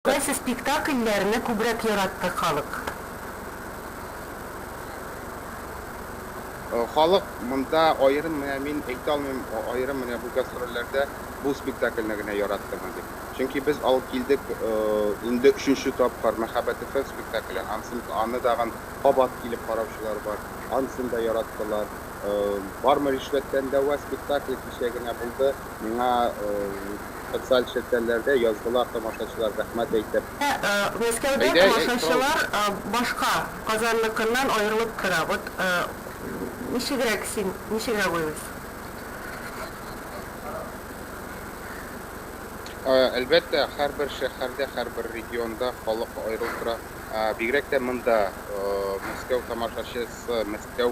Кайсы спектакльләрне күбрәк яратты халык? Халык монда аерым менә мин әйтә алмыйм, аерым менә бу гастрольләрдә бу спектакльне генә яраттымы дип. Чөнки без алып килдек инде өченче тапкыр Мәхәббәт FM спектакле, ансын аны тагын кабат килеп караучылар бар, ансын да яраттылар. Бармы ришвәттән дәва спектакле кичә генә булды. Миңа социаль челтәрләрдә яздылар тамашачылар рәхмәт әйтеп. Мәскәүдә тамашачылар башка, Казанныкыннан аерылып тора. Вот ничегрәк син, ничегрәк уйлыйсың? Әлбәттә, һәрбер шәһәрдә, һәрбер регионда халык аерылып тора. Бигрәк тә монда Мәскәү тамашачысы, Мәскәү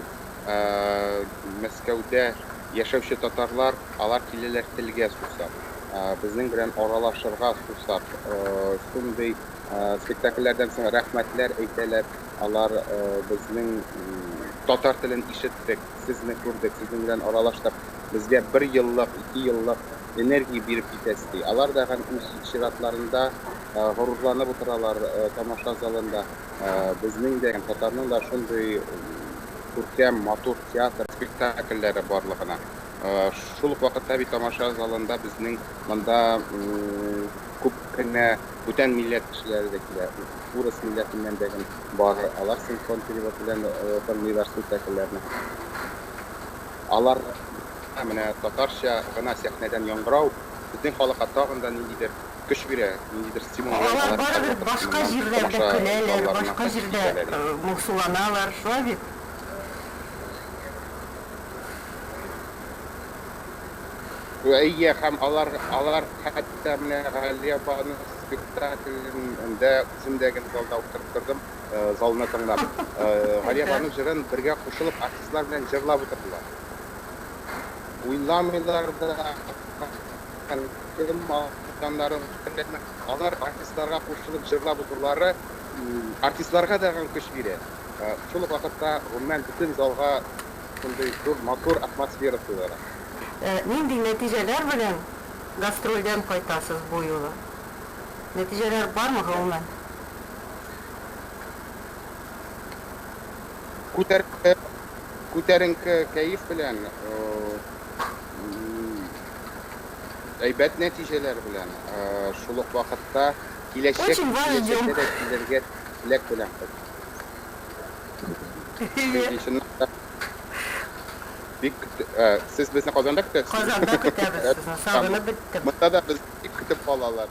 Мәскәүдә Яшәүче татарлар, алар киләләр телгә сусап, безнең белән аралашырга сусап, шундый спектакльләрдән соң рәхмәтләр әйтәләр, алар безнең татар телен ишеттек, сезне күрдек, сезнең белән аралаштык, безгә бер еллык, ике еллык энергия биреп китәсез, ди. Алар да һәм үз чиратларында горурланып утыралар тамаша залында, безнең дә, татарның да шундый күркәм, матур театр спектакльләре барлыгына. Шул ук вакытта бит тамаша залында безнең монда күп кенә бүтән милләт кешеләре дә килә. Урыс милләтеннән дә бар. Алар синхрон перевод белән тыңлыйлар спектакльләрне. Алар менә татарча гына сәхнәдән яңгырау безнең халыкка тагын да ниндидер көч бирә, ниндидер стимул бирә, Алар алар барыбер һәрвакыт башка моннан җирдә дә тамаша көләләр, залларына башка кайтып җирдә китәләр иде. моңсуланалар, шулай бит? Әйе, һәм алар, алар хәтта менә Галия апаның спектаклен дә үзем дә гел залда утырып тордым, залны тыңлап. Галия апаның җырын бергә кушылып артистлар белән җырлап утырдылар. Уйламыйлар да. Кем кылганнарын белмим. Алар артистларга кушылып җырлап утырулары артистларга да көч бирә. Шул ук вакытта, гомумән, бөтен залга шундый зур матур атмосфера сыйлыйлар. Нинди нәтиҗәләр белән гастрольдән кайтасыз бу юлы? Нәтиҗәләр бармы гомумән? Күтәренке кәеф белән әйбәт нәтиҗәләр белән, шул ук вакытта киләчәк, киләчәктә дә килергә теләк белән кайттык. Бик көт... Сез безне Казанда көтәсезме? Казанда көтәбез сезне, сагынып беттем. Монда да безне бик көтеп калалар.